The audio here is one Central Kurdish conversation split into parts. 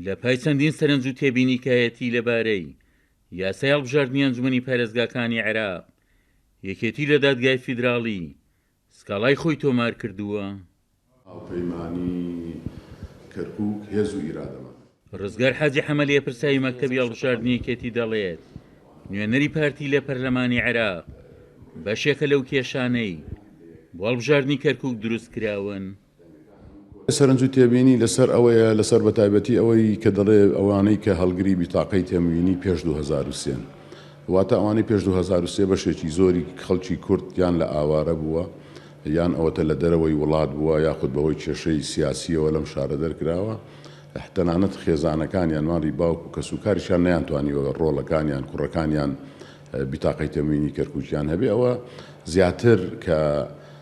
لە پای چەندین سەرنج و تێبینیکایەتی لە بارەی یاسای هەڵبژاردنی ئەنجومەنی پارێزگاکانی عێراق، یەکێتی لە دادگای فیدراڵی سکاڵای خۆی تۆمار کردووە. هاوپەیمانی کەرکوک هێز و ئیرادەمان. ڕزگار حاجی حەمە لێپرساوی مەکتەبی هەڵبژاردنی یەکێتی دەڵێت، نوێنەری پارتی لە پەرلەمانی عێراق بەشێکە لەو کێشانەی بۆ هەڵبژاردنی کەرکوک دروستکراون. سەرنج و تێبینی لەسەر ئەوەیە، لەسەر بەتایبەتی ئەوەی کە دەڵێ ئەوانەی کە هەڵگری بیتاقەی تەموینی پێش دوو هەزار و سێن. واتە ئەوانەی پێش دوو هەزار و سێ بەشێکی زۆری خەڵکی کورد یان لە ئاوارە بووە یان ئەوەتە لە دەرەوەی وڵات بووە یاخود بەهۆی کێشەی سیاسییەوە لەم شارە دەرکراوە. تەنانەت خێزانەکانیان ماڵی باوک و کەسوکاریشیان نەیانتوانیوە ڕۆڵەکانیان، کوڕەکانیان بیتاقەی تەموینی کەرکوکیان هەبێ. ئەوە زیاتر کە.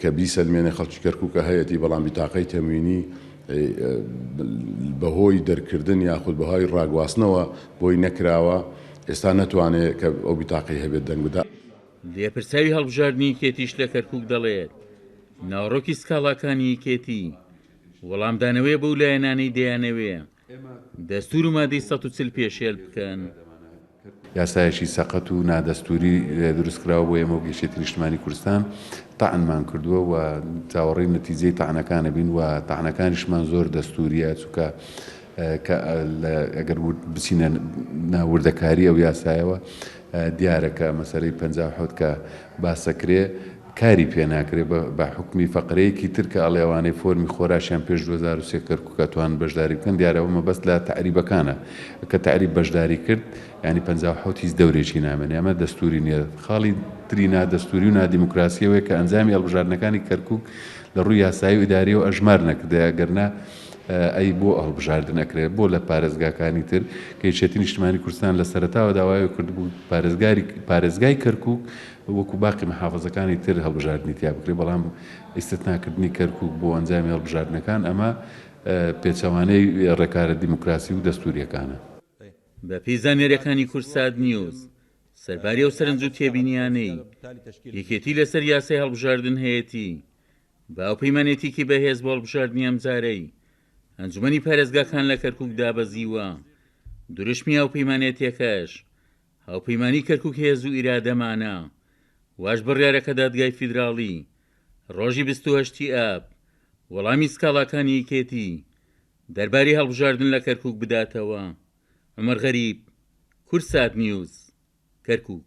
کە بیسەلمێنێ خەڵکی کەرکوکە هەیەتی بەڵام بیتاقەی تەموینی بەهۆی دەرکردن یاخود بەهای ڕاگواستنەوە بۆی نەکراوە ئێستا نەتوانێ کە ئەو بیتاقەی هەبێت دەنگ بدا. لێپرسراوی هەڵبژاردنی یەکێتیش لە کەرکوک دەڵێت، ناوەڕۆکی سکاڵاکانی یەکێتی، وەڵامدانەوەیە بەو لایەنانەی دەیانەوێ دەستور و مادەی سەد و چل پێشێل بکەن. یاسایەکی سەقەت و نادەستوری دروستکراوە بۆیە ئێمە وەک یەکێتی نیشتمانی کوردستان تەعنمان کردوە و چاوەڕێی نەتیجەی تەعنەکانەبین و تەعنەکانیشمان زۆر دەستوریە چونکە ئەگەر بچینە ناو وردەکاری ئەو یاسایەوە دیارە کە مەسەلەی پەنجا و حەوت کە باسەکرێ کاری پێ ناکرێ بە حوکمی فەقرەیەکی تر کە ئەڵێ ئەوانەی فۆرمی خۆراشیان پێش دوو هەزار و سێ کەرکوک ئەتوانن بەشداری بکەن دیارە ئەوە مەبەست لە تەعریبەکانە کە تەعریب بەشداری کرد یانی پەنجا و حەوت هیچ دەورێکی نامێنێ ئەمە دەستووری نییە خاڵی تری نادەستووری و نادیموکراسیەوەیە کە ئەنجامی هەڵبژاردنەکانی کەرکوک لە ڕووی یاسایی و ئیداریەوە ئەژمار نەکردایە گەرنا ئەی بۆ هەڵبژاردن ئەکرێت بۆ لە پارێزگاکانی تر کە یەکێتی نیشتمانی کوردستان لە سەرەتاوە داوای کردبوو پارێزگاری پارێزگای کەرکوک وەکو باقی محافظەکانی تر هەڵبژاردنی تیا بکرێت بەڵام ئیسستناکردنی کەرکوک بۆ ئەنجامی هەڵبژاردنەکان ئەمە پێچەوانەی ڕێکارە دیموکراسی و دەستوریەکانە. بەپێی زانیارییەکانی کوردسات نیوز، سەرباری ئەو سەرنج و تێبینییانەی یەکێتی لەسەر یاسای هەڵبژاردن هەیەتی، بە هاوپەیمانێتیکی بەهێز بۆ هەڵبژاردنی ئەمجارەی ئەنجومەنی پارێزگاکان لە کەرکوک دابەزیوە، دروشمی هاوپەیمانێتیەکەش، هاوپەیمانی کەرکوک هێز و ئیرادەمانە. واش بڕیارەکە دادگای فیدراڵی، ڕۆژی بیست و هەشت ی ئاب، وەڵامی سکاڵاکانی یەکێتی دەربارەی هەڵبژاردن لە کەرکوک بداتەوە. عومەر غەریب، کوردساتنیوز، کەرکوک.